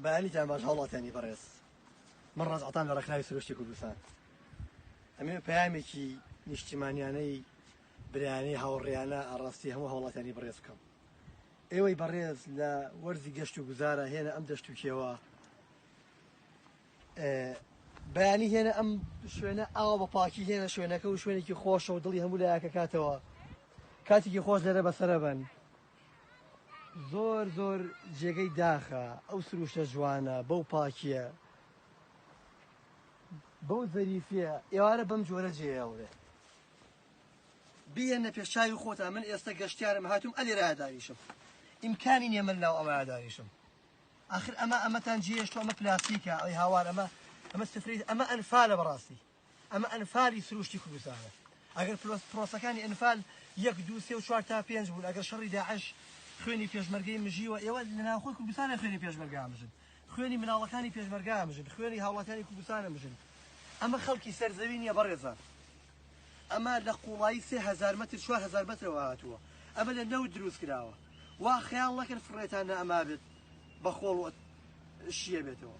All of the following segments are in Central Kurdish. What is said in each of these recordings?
بەیانیتان باش هاوڵاتیانی بەڕێز من ڕزعتان لە ڕێکخراوی سروشتی کوردستان ئەمێ پەیامێکی نیشتیمانیانەی برایانەی هاوڕێیانە ئاڕاستی هەموو هاوڵاتیانی بەڕێز بکەم ئێوەی بەڕێز لە وەرزی گەشت و گوزارە هێنە ئەم دەشت و کێوە بەیانی هێنە ئەم شوێنە ئاوا بە پاکی هێنە شوێنەکە و شوێنێکی خۆشە و دڵی هەموو لایەکە کاتەوە کاتێکی خۆش لێرە بەسەرە بن زۆر زۆر جێگەی داخە ئەو سروشتە جوانە بەو پاکیە بەو زەریفیە ئێوارە بەم جۆرە جێیاورێت بیێنە پێشچوی خۆتا من ئێستا گەشتیارم هاتوم ئەلێرا داویشم ئیمکانی نیە من ناو ئەمە داویشم آخر ئەمە ئەمەتان جێشت ئەمە پلاسیکە ئەی هاوار ئەمە ئەمە سفری ئەمە ئەنفالە بەڕاستی ئەمە ئەنفالی سروشتی کوردستانە ئەگەر پرۆسەکانی ئەنفال یەک دو سێ و چوار تا پێنج بوون ئەگەر شەڕی داعش خوێنی پێشمەرگەی مژیوە ئێوە لە ناوخۆی کوردستانە خوێنی پێشمەرگا مژن خوێنی مناڵەکانی پێشمەرگا مژن خوێنی هاوڵاتیانی کوردستانە مژن ئەمە خەڵکی سەرزەوی نییە بەڕێزە ئەمە لە قوڵایی سێ هزار متر چوار هزار مترەوە هاتووە ئەمە لە نەوت دروست کراوە وا خەیاڵ نەکرد فڕێتان نە ئەما بێت بە خۆڵ شیە بێتەوە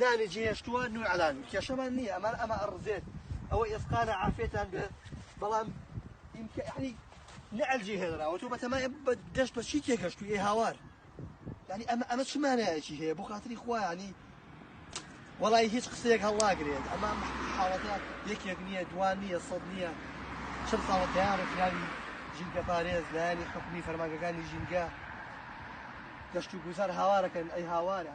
نانی جێهێشتووە نوعەلان کێشەمان نییە ئەمان ئەمە ئەڕزێت ئەوە ئێسقانە عافێتان بێت بەڵام ئیمکەعنی نەعلجی هێنراوە تۆ بەتەمای دەشت بە چی تێگەشتوی هاوار ینی ئەمە ئەمە چمانایەکی هەیە بۆ خاتری خوانی وڵی هیچ قسەیەک هەڵناگرێت ئەمە حاڵەتە یەکێک نییە دوان نییە سەد نییە چل ساڵە تیان ڕێکراوی ژینگە پارێز لایانی حکومی فەرماگەکانی ژینگە گەشت و گوزار هاوارەکەن ئەی هاوارە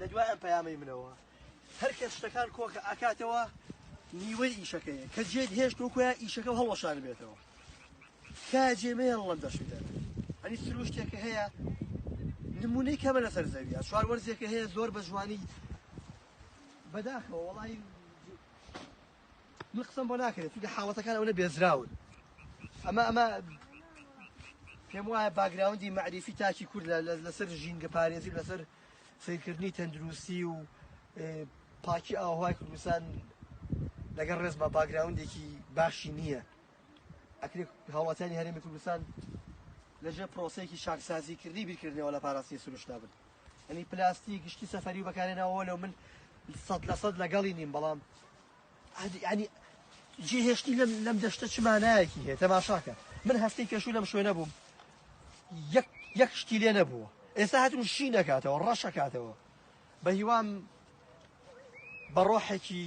لە دوای ئەم پەیامەی منەوە هەر کەس شتەکان کۆکە ئاکاتەوە نیوەی ئیشەکەیە کە جێت هێشت وکوە ئیشەکە هەڵەشار بێتەوە کا جێمەیە هەڵم دەشی دەرێت ئەنی سروشتێکە هەیە نمونەی کەمە لەسەر زەویە چوار وەرزێکە هەیە زۆر بە جوانی بەداخەوە وڵی من قسەم بۆ ناکرێت چونکە حاڵەتەکان ئەوە بێزراون ئەمە ئەمە پێم وایە باگراوندی مەعریفی تاکی کورد لەسەر ژینگە پارێزی لەسەر سیرکردنی تەندروستی و پاکی ئاوهای کوردستان لەگەڵ ڕێز بە باگراوندێکی باشی نییە ئەکرێت هاوڵاتیانی هەرێمی کوردستان لەژێ پرۆسەیەکی شارسازیکردنی بیرکردنەوە لە پاراستنی سروشتا بن ینی پلاستیک گشتی سەفەری و بەکارێنەوە لەو من سەد لە سەد لەگەڵی نیم بەڵام ینی جێ هێشتی لەم لەم دەشتە چمانایەکی هەیە تەماشاکە من هەفتەی پێشوو لەم شوێنە بووم یەک شتی لێ نەبووە ئێستا هاتون شی نەکاتەوە ڕەشەکاتەوە بە هیوام بە ڕۆحێکی